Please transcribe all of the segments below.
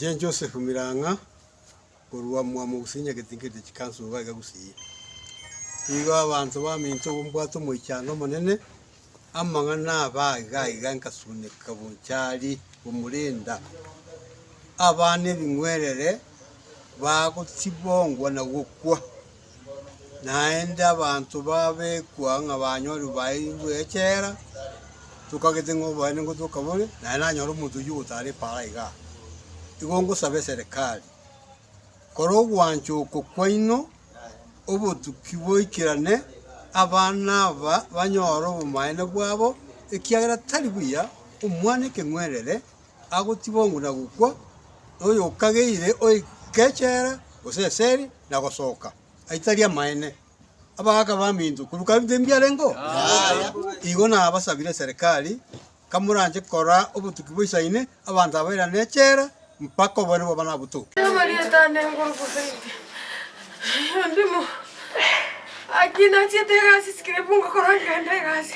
Inche Josefu Mirang'a, korwa mwamo gose nyagete nkerete chikansu iga iga gose iyia. Igo abanto baminto igo mbwate omoichano omonene, amang'ana aba iga iga nkasuneka bonchari omorenda. Abana ebing'werere bagotibongwa na gokwa. Naende abanto babekwa ng'a banyore baeirwe echela, tokagete ng'a oboene ngotoka bore, naende nanyore omonto oyio ogotaara epaara aiga aa. Igo ngosaba eserekari, kora ogwancha oko kwaino, obotuki boikerane, abana aba banyore obomaene bwabo, ekiagera tari buya omwana ekeng'werere agotibongwa na gokwa, na oyokageire oike echela, gose eseli, na gosoka, aitari amaene. Abagaaka baminto, korwa kare nde mbiarengeo? Yaya. Igo nabasabire eserekari, kamoranche korora obotuki boisaine, abanto aba erane echela, mpaka obonene bwabo nabotoke. Riaba rietano igoro gose inche, ondimo. Aki nachiete egasi sikira ibuga korwa nkende egasi.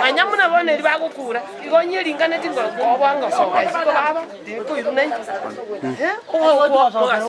Manya buna bono erio bagokuura, igo onye ringaneti ngo koba ngosoka isiko baba tikoiruna inche. Ogokwa mogaso.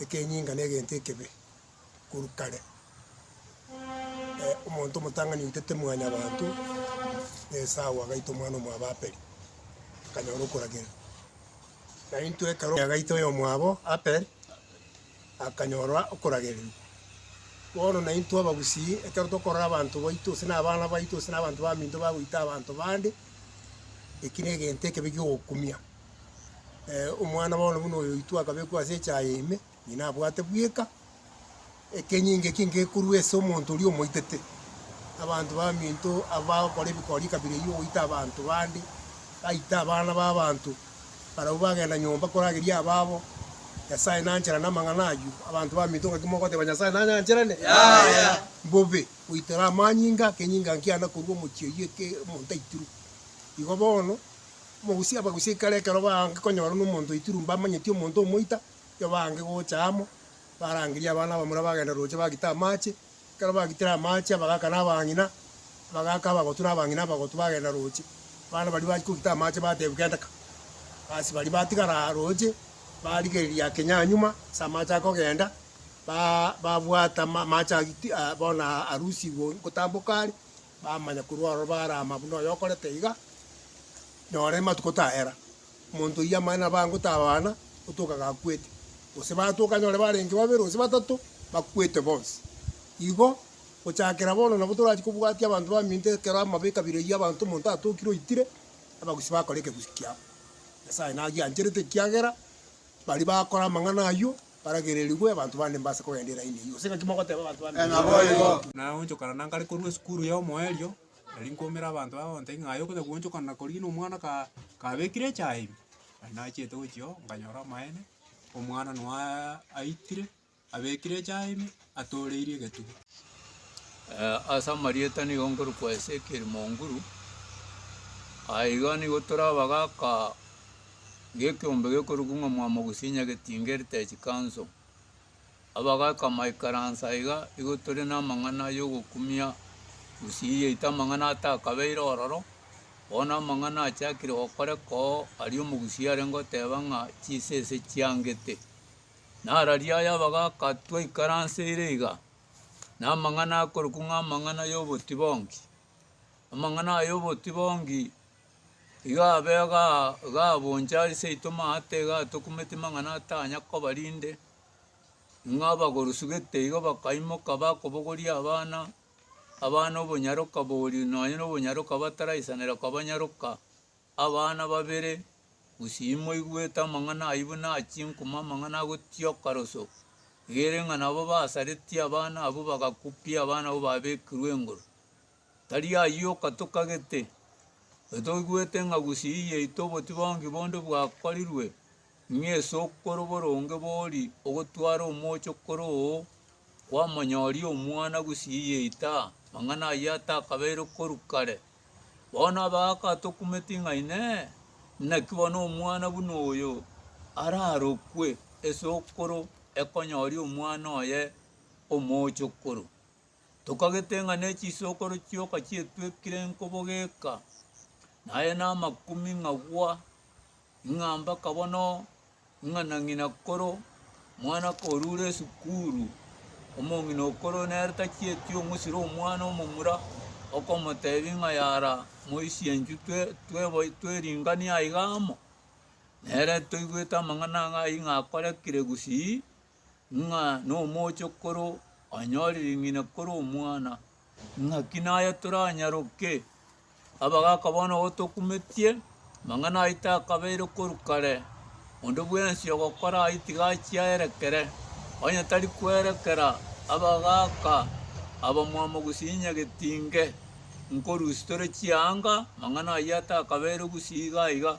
ekenyinga na egento ekebe korwa kare. Omonto omotang'ani oitete Mwanyabaanto, na Esau agaita omwana omwabo Aperi, akanyora okoragerwa. Na intwe ekero agaita oyomwabo Aperi, akanyora okoragererwa. Bono na intwe abagusii, ekero tokorora abanto baito, gose na abana baito, gose na abanto baminto bagoita abanto bande, eki na egento ekebe giogokumia. omwana bono buna oyo oitwe akabekwa ase echaye ime, ng'ina abwate bweka ekenyinga ekia ngekorwa ase omonto oria omoitete. Abanto baminto abagokora ebikori ekabira eyio goita abanto bande, baita abana b'abanto, barabwo bagenda nyomba korageria ababo, Nyasae nanchera namang'ana ayio, abanto baminto ngaki mogoteba Nyasae nanyancherane? Yaya! Mbobe, goitera amanyinga, ekenyinga nkiana korwa omochie oyio eke omonto aitirwe. Igo bono. Omogusia abagusie ekero ekero baange konyora nomonto oitirwe mbamanyeti omonto omoita, erio baange gocha amo, barangerie abana abamura bagenda rooche bagite amaache, ekero bagitire amaache abagaka na abang'ina, abagaka abagotu na abang'ina abagotu bagenda rooche, abana baria bachia kogita amaache bateebia genda ka. Basi baria batigara rooche barigereria ake nyanyuma ase amaache akogenda, ba babwata ma amaache agiti bono arusigwe gotamboka are, Bamanya korwa aroro barama buna oyo okorete iga, nyora ematuko tayera. Omonto oyio amanye nabo ango tabana gotoka gakwete, gose batoka anyore barenge babere gose batato bakwete bonsi. Igo gochakera bono nabo torachi kobwatia abanto baminto ekero amabe ekabira eyio abanto omonto atokire oitire, abagusii bakora ekegusii kiabo. Nyasae nagiancherete ekiagera baria bakora amang'ana ayio. Baragererigwe abanto bande mbase kogenda eraini eyio, gose ng'aki mogoteba abanto bande? Naboigo. Naonchokana na nkare korwa esukuru y'omoerio, nari nkoumera abanto aba ngotebia ng'a aye okonya goonchokana na korigia na omwana ka kabekire echae ime. Nari nachiete gochia oo, nkanyora amaene, omwana noa aitire, abekire echae ime. atooreirie egetugi. Ase amarieta nigo nkorokwa Ezekiel Monguru, aye iga nigo tore abagaka g'ekeombe gekorokwa ng'a Mwamogusi Nyagetinga Heritage Council. Abagaka maikaransa iga igo tore namang'ana yogokumia gusii yaito amang'ana atakabeire ororo, bono amang'ana achakire gokoreka oo aria Omogusi arenge goteba ng'a chisese chiangete Nararia aya abagaaka twaikaranseire iga, namang'ana akorokwa ng'a amang'ana y'obotibongi. Amang'ana aya y'obotibongi iga abe igaa iga aboncha ase seito maate iga atokumeti mang'ana atanya koba rinde, ng'a abagorosu gete iga bakaimoka bakobogoria abana, abana obonyaroka bori nonye na obonyaroka bataraisanera koba nyaroka. Abana babere, gusii imoigwete amang'ana ayio buna achinkuma amang'ana agotioka roso, egere ng'a nabo basaretie abana abwo bagakupia abana abwo babekirwe engoru. Tari ayio okatokagete, onye toigwete ng'a gusii yaito obotibongi bonde bwakorirwe, ng'a ase okoro boronge bori ogotwara omocho kore oo kwamonyoria omwana gusii yaito aa, mang'ana ayio atakabeire korwa kare. Bono abagatokumeti ng'a Inee! Naki bono omwana buna oyo ararokwe esukuru ekonyoria omwana oye omochokoro? Tokagete ng'a ne chisokoro chioka chietwekire nkobo geka, naye namakuming'agwa. Ng'a mpaka bono ng'a na ng'ina koro mwana korure esukuru, omong'ina okoro nere tachieti ong'usira omwana omomura, okomotebi ng'a yara moisie enchu tweringanie aiga amo. Nere toigwete amang'ana ng'a aye ng'a akorekire gusii ng'a nomochokoro anyore ring'ina kore omwana, ng'aki naye toranyaroke? Abagaka bono gotokumetie, amang'ana ayio takabeire korwa kare, onde bwensi ogokora ayio tiga achia aerekere, onye tari kwerekera abagaka abamwabo gosinya getinge. Nkorusia tore chianga, amang'ana ayio atakabeire gusii iga iga.